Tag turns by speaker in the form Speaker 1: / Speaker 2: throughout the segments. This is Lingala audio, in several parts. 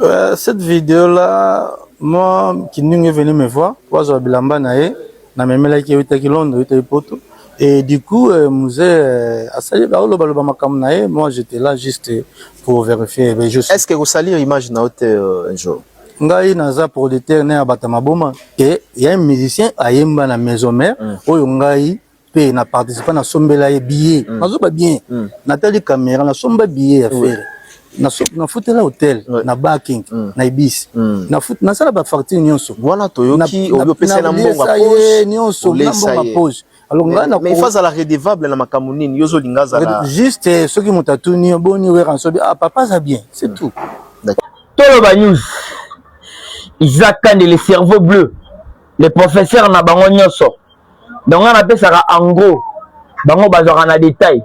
Speaker 1: Euh, cette vidéo là, moi, Kindingu est venu me voir, wazwa bilamba na ye, na memelaki eutaki Londres, eutaki Poto. Et du coup, euh, Mouze, euh, asali ba oloba loba makambo na ye, moi j'étais là juste pour vérifier. Mais je suis... Est-ce que vous salir
Speaker 2: image na haute euh, un jour? ngai naza
Speaker 1: producteur na ya bata maboma ke ya musicien ayemba na maison mère mm. oyo ngai pe na participa na sombela ye billet mm. nazoba bien mm. natali kamera nasomba billet ya fere nafutela hotel na baking mm. na ibis nasala bafacture nyonso wana toyoki
Speaker 2: oyo opesela mbongo ye nyonso na
Speaker 1: mbongo pose mais fazala redevable
Speaker 2: na makambo nini yo ozolinga azala juste eh, soki moto
Speaker 1: atuni yo boni weransobi ah papa aza bien c'est tout toloba
Speaker 3: news isaac kande le cerveau bleu le professeur na bango nyonso donc nga napesaka en gros bango bazwaka na detail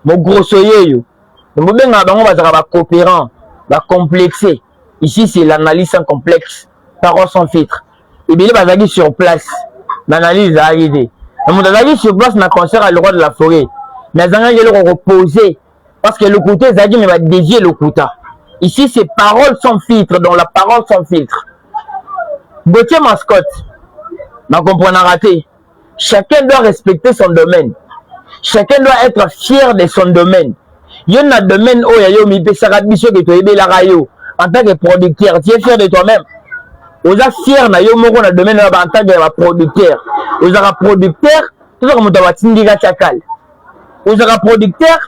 Speaker 3: mogrosso yeyo bobengaka bango bazalaka bacoopérant bacomplexe ici c'est l'analyse sans complexe parole sans filtre ebele bazalaki sur place baanalyse ezalaki te na moto azalaki sur place na concert ya le roi de la forêt mais azangaki eloko kopose parce que lokuta ezalaki mais badevie lokuta ici c'est parole sans filtre donc la parole sans filtre gautier mascotte na comprenaka te chacun doit respecter son domaine chacun doit être fier de son domaine yo na domaine oyo ya yo omipesaka biso ke toyebelaka yo en tant que producteur tu es fier de toi-même oza fier na yo moko na domaine oyo en tant que producteur ozalaka producteur tozaka moto ya batindika cakale ozalaka producteur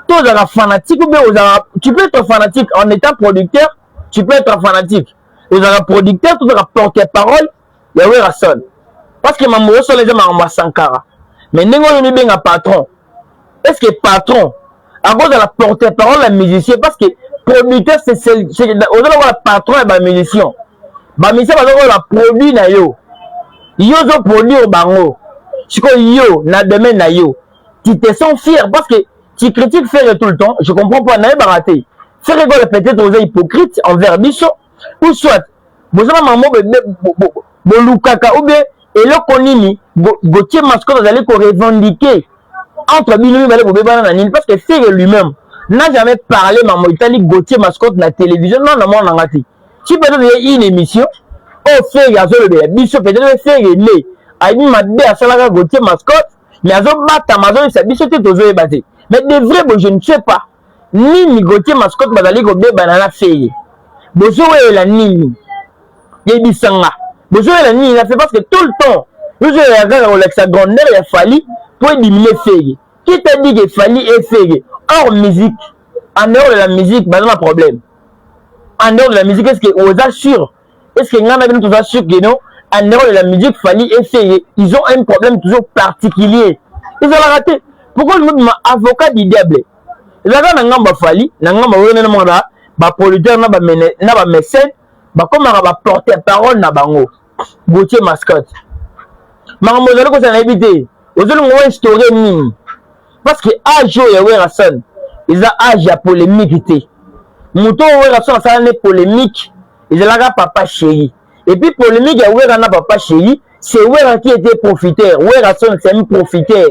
Speaker 3: to ozalaka fanatique ou bien ozalaka tu peux être fanatique en étant producteur tu peux être fanatique ozalaka producteur to ozalaka porte parole ya werrason parce que mambo osala eza makambo ya sankara mais ndenge oyo mibenga patron est ce que patron akozala porte parole ya musicien parce que producteur ozala wana patron ya bamusicien bamisien bazokola ba produit na yo yo ozo produire bango sikoyo yo na domaine na yo tu te sens fier parce que tu critiques ferre tout le temps je comprends pas nayebaka te ferre gola peut-être oza hypocrite envers biso ou soit boza ba mamo bolukaka ou bien eloko nini gautier mascot azali ko revendiquer entre bino mibale bobebana na nini parce que ferre lui-même n'a jamais parlé mamo etali gautier mascot na télévision non na mwana na nga te si peut-être ye une émission oyo oh, ferre azolobela biso peut-être ferre ele ayebi mabe asalaka gotie mascotte mais azobatama azoyebisa biso te tozoyeba te mais de vrai bo je ne sais pas nini gotie mascotte bazali kobebana na ferre bozowelela nini yebisa nga bozowelela nini na fe parce que tout le temps ozowelela kaka kolakisa grandeur ya fali mpo ediminue ferre qui t'a dit que fali efere or musique en dehors de la musique baza na problème en dehors de la musique est-ce que oza sûr est-ce que ngai na bino toza sûr que non en dehors de la musique Fally et Seye ils ont un problème toujours particulier ezalaka te pourquoi olingi obima avocat du diable ezalaka na ngambo ya Fally na ngambo ya wene na mwana ba producteur na ba mécène bakomaka ba porte parole na bango Gauthier Mascotte. Makambo ozali kozala nayebi te. Ozolinga o instaurer nini? Parce que age oyo ya Werrason eza age ya polemique te. Moto oyo Werrason asala ne polemique ezalaka papa chéri. Et puis polemique ya Werra na papa chéri, c'est Werra qui était profiteur. Werrason c'est un profiteur.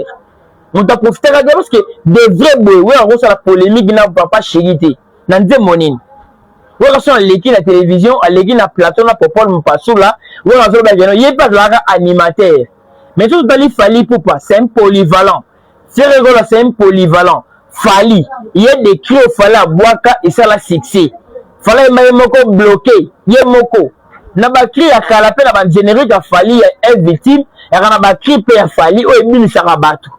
Speaker 3: Moto aprofitaka te parce que de vrai boye Werra akosala polemique na papa chéri te. Na nzembo nini? Werrason aleki na television aleki na plateau na popol mpasula wana azoloba keno ye mpe azalaka animateur mais soki totali fali pupa c'est un polyvalent ferre gola c'est un polyvalent fali ye decri oyo fali abwaka esala succès fali ayemba ye moko bloke ye moko na bacri ya kala mpe na bagénérique ya fali ya un victime yaka na bacri mpe ya fali oyo ebimisaka bato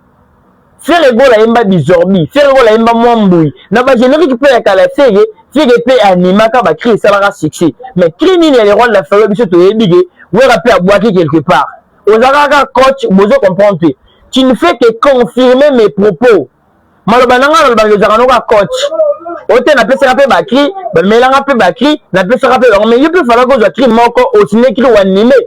Speaker 3: Ferre Gola ayemba Bizorbi, Ferre Gola ayemba Mwa Mbuyi, na ba generique pe ya kala Ferre, Ferre pe animaka ba cris esalaka succès. Mais cris nini ya le roi de la ferro biso toyebi ke Werra pe abuaki quelque part. Ozalaka kaka coach, bozo comprendre te. Tu ne fais que confirmer mes propos. Maloba na nga nalobaka ozalaka no kaka coach. Oyo te napesaka pe ba cris, bamelanga pe ba cris, napesaka pe bango. Mais yo pe falaki ozwa cris moko, o signer cris o animer.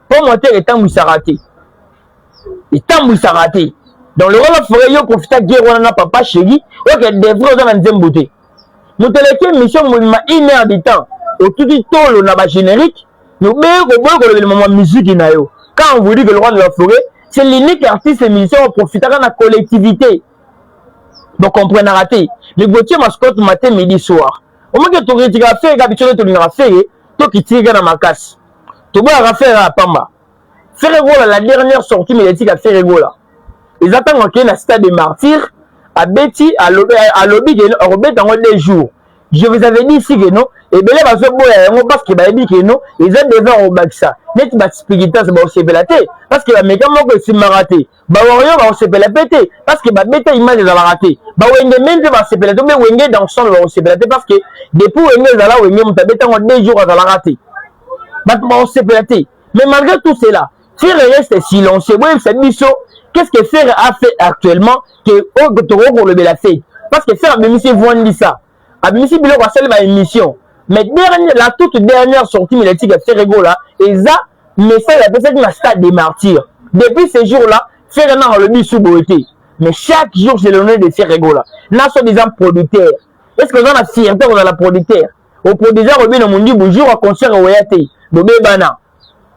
Speaker 3: mpo motere etambwisaka te etambwisaka te donc lokola bafore yo profita guerre wana na papa shegi oke devre oza na nzembo te moto eleki émission mobima une heure du temps otuti tolo na bagénérique nobeye koboyi kolobela mama miziki na yo quand on vous dit que le roi de la forêt c'est l'unique artiste musicien oprofitaka na collectivité bocomprenaka te mais botie mascote mate midi soir omaki tokritikaka fere kaka biso nde tolingaka fere tokitika na makasi toboyaka fere ya pamba fere gola la dernière sortie médiatique ya fere gola eza ntango akei na stade de martyr abeti alobi, alobi keno akobeta yango deux jours je vous avais dit ici keno ebele bazoboya yango parce que bayebi keno eza devant kobakisa neti baspigitas baosepela te parce que bameka moko esimbaka te Ba warrior bakosepela pe te parce que babeta image ezalaka te. Ba wenge meme pe basepela te mpe wenge dans son bakosepela te parce que depuis wenge ezala wenge moto abeta yango deux jours azalaka te. Bato bakosepela te. Mais malgré tout cela, Ferre reste silencieux. Boyebisa biso qu'est-ce que Ferre a fait actuellement que oyo tokoki kolobela Ferre parce que Ferre abimisi Voix Ndisa. abimisi biloko asali ba émission mais dernier la toute dernière sortie médiatique ya Ferre Gola eza message apesaki na stade des martyrs depuis ce jour là Ferre nanga alobi su boye te mais chaque jour c'est l'honneur de Ferre Gola na so disant producteur est ce que oza na fierté kozala producteur oproduisaka obino mondibu jour ya concert oya te bobebana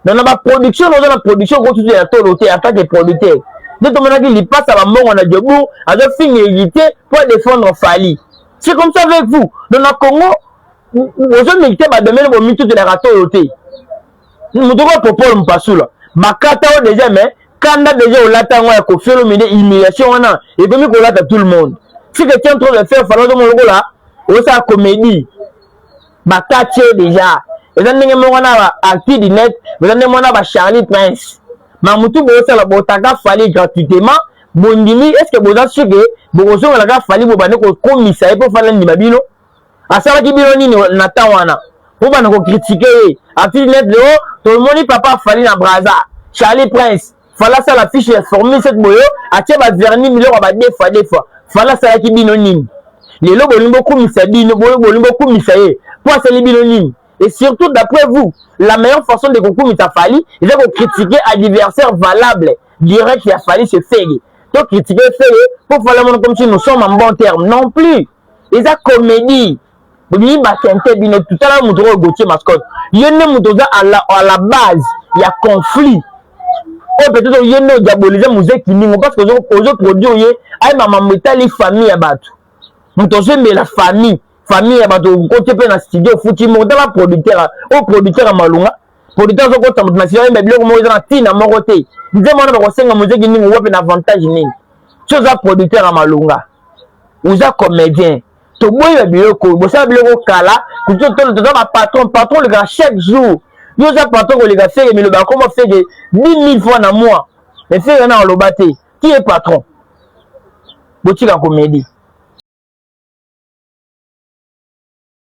Speaker 3: na na ba production oza na production ko tutu ya tolo te en tant que producteur nde tomonaki lipasa bambongo na jobour azofinga elite mpo adefendre fali c'est comme ça avec vous donc na congo ozomilite badomene bomitutelaka tolo te moto okoya popole mpasula bakata oyo deja mais kanda deja olata yango ya kofiolomide humiliation wana ekomi kolata tout le monde si que tian trop de faire fana ozomona lokola osala comédie bakati ye deja eza ndenge moko na ba actu du net eza ndenge moko na ba charlie prince mamutu bosala botaka fali gratuitement bondimi est ce que boza sur ke bokozongela kaka fali bobande kokomisa ye mpo fali andima bino asalaki bino nini na temps wana mpo bana kokritike ye actu du net leo tomoni papa fali na braza charlie prince fala asala fiche ya formule soki boyo atie ba vernis biloko ya ba deux fois deux fois fala asalaki bino nini lelo bolingi bokumisa bino bolingi bokumisa ye mpo asali bino nini et surtout d'après vous la meilleure façon de kokumisa fali eza kocritiquer adversaire valable direct ya fali se fege to critique fele mpo fala mono comme si nous sommes en bon terme non plus eza comédie bolingi ba sente bino tutala moto oyo Gauthier mascotte ye nde moto oza à la, à la base ya conflit oyo peut-être oye nde odiabolize muze kilingo parce que ozo produire ye ayeba mambo etali famille ya bato moto ozoyembela famille famille ya bato okoti mpe na studio ofuti moko tala producteur oyo producteur ya malonga producteur azokotisa moto na studio ayemba biloko moko eza na ntina moko te nzembo wana bakosenga muze kilingo wapi na avantage nini so oza producteur ya malonga oza comédien toboyi ba biloko oyo bosala biloko kala toza ba patron patron olekaka chaque jour yo oza patron koleka fege miloba akoma fege 10000 fois na moi mais fege wana aloba te qui est patron botika komedi